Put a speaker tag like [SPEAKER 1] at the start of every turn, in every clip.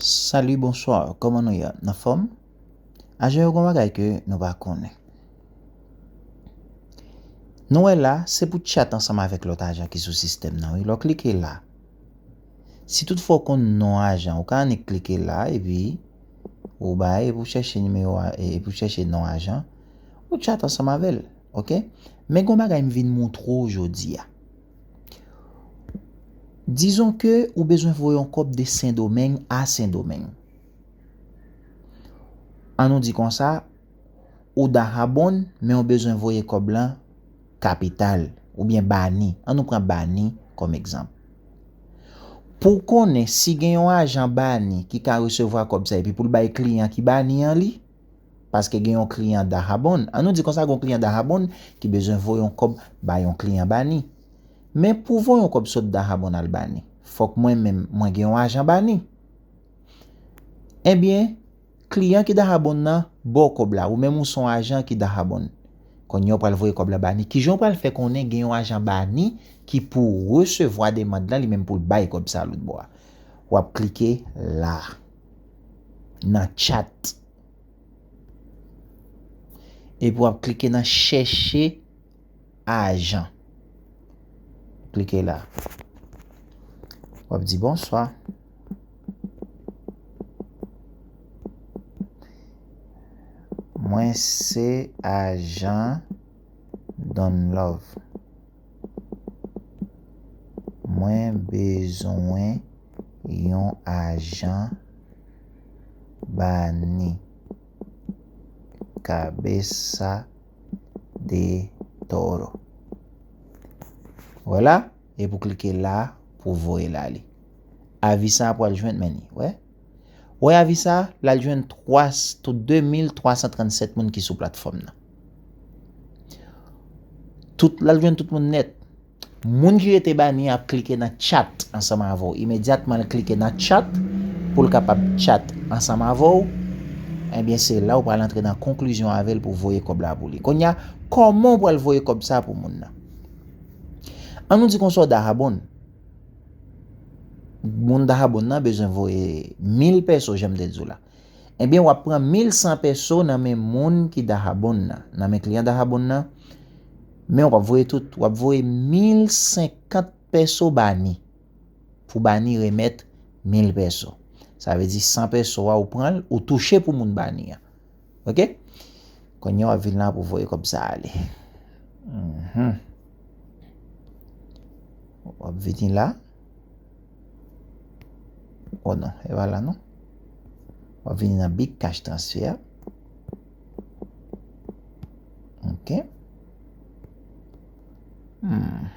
[SPEAKER 1] Salut bonsoir koman nou ye nan fòm aje yo gon bagay ke nou pa konnen nou wè la se pou chat ansanm avèk lòt ajan ki sou sistèm nan wi lè w klike la si tout fwa w konn non ajan ou ka annik klike la epi ou bay epi w chèche nimewo epi w chèche non ajan ou chat ansanm avèl ok men gon bagay m vin moutre w jodi a. Dizon ke ou bezwen voye yon kòb de Sendomeng a Sendomeng. An nou di konsa, ou Dahabonn men ou bezwen voye kòb lan kapital oubyen Bani. An nou pran Bani kòm egzanp. Pou w konnen si gen yon ajan Bani ki ka resevwa kòb sa epi pou l bay kliyan ki Bani an li, Paske gen yon kliyan Dahabonn, an nou di konsa gen yon kliyan Dahabonn ki bezwen voye yon kòb ba yon kliyan Bani. Men pou voye yon kòb sot Dahabonn al Bani, fòk mwen menm mwen gen yon ajan Bani. Ebyen, kliyan ki Dahabonn nan ba w kòb la, ou menm ou son ajan ki Dahabonn. Konnye w pral voye kòb la Bani, kijan w pral fè konnen gen yon ajan Bani ki pou resevwa demand lan li menm pou l bay kòb sa loutbò a? W ap klike la, nan tchat. Epi wap klike nan chèche ajan. Klike la. Wap di bonswa. Mwen se ajan Don Love. Mwen bezwen yon ajan bani. Cabeza de toro. Wè la, epi w klike la pou voye l ale. Avi sa a pral jwenn men li, wè. Wè avi sa a, l al jwenn 2337 moun ki sou platfòm nan. Tout, l al jwenn tout moun nèt. Moun ki rete bani an ap klike nan chat ansanm avè w. Imedyatman l klike nan chat pou l kapab chat ansanm avè w, ebyen se la ou pral antre nan konklizyon avè l pou w voye kòb la pou li. Kounye a, kòman ou pral voye kòb sa a pou moun nan? An nou di konsa w da abon. Moun Dahabon nan bezwen voye mil pèso jan m te di w la. Ebyen w ap pran mil san pèso nan men moun ki Dahabon nan, nan men kliyan Dahabon nan, men w pa p voye tout, w ap voye mil senkant pèso ba ni, pou ba ni remèt mil pèso. Sa vle di san pèso a ou pran l, ou touche pou moun ba ni an. Ok Kounye wap vin la pou voye kob sa ale Mhmm Wap vini la Oh non e pa la non Wap vini nan big cash transfer Ok Mhmm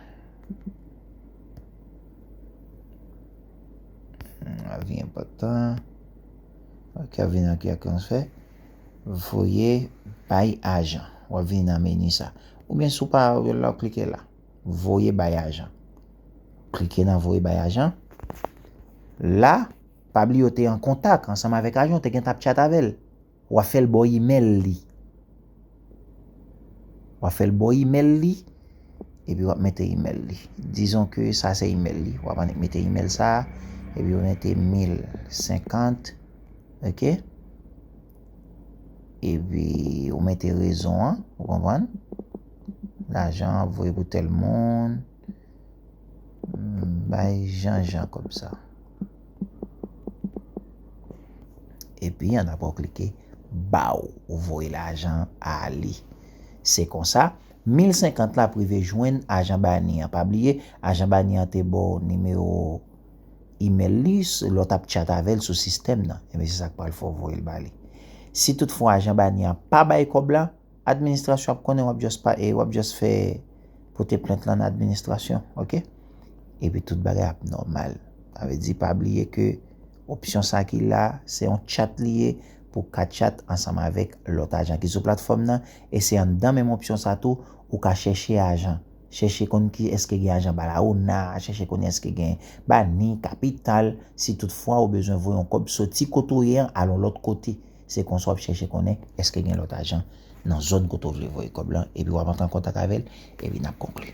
[SPEAKER 1] Avi enpotan Ok ap vini nan ki ak yon fè voye bay ajan wap vini nan meni sa ou byen sou pa ou la ou klike la voye bay ajan klike nan voye bay ajan la pa bli yo te an kontak ansanm avèk ajan te gen tap chat avèl wap fèl bo imèl li. Wap fèl bo email li epi wap mete email li dizon ke sa se email li wap annik mete email sa epi wap mete 1050 ok epi wap mete rezon an ou konprann lajan an voye pou tèl moun. Bay Jan Jan kòb sa. Epi an apre w klike baw ou voye lajan a ale. Se konsa mil senkant la ap rive jwenn ajan bani an. Pa bliye ajan bani an te baw nimewo imèl li lè w tap tchat avè l sou sistèm nan. Ebyen se sa k pral fè w voye l ba li. Si tout fwa ajan bani an pa bay kòb la. Administrasyon ap konnen wap just pa e wap just fè pote plent lan nan administrasyon ok epi tout bagay ap nòmal sa vle di pa bliye ke opsyon sa ki la se yon chat li ye pou ka chat ansanm avèk lòt ajan ki sou platfòm nan e se anndan menm opsyon sa tou ou ka chèche ajan chèche konn ki eske gen ajan Barahona chèche konn eske gen Bani kapital si tout fwa ou bezwen voye yon kòb soti kote ou ye an al yon lòt kote. Se konsa w ap chèche konnen èske gen lòt ajan nan zòn kote w vle voye kòb lan epi w ap antre an kontak avè l epi n ap konkli.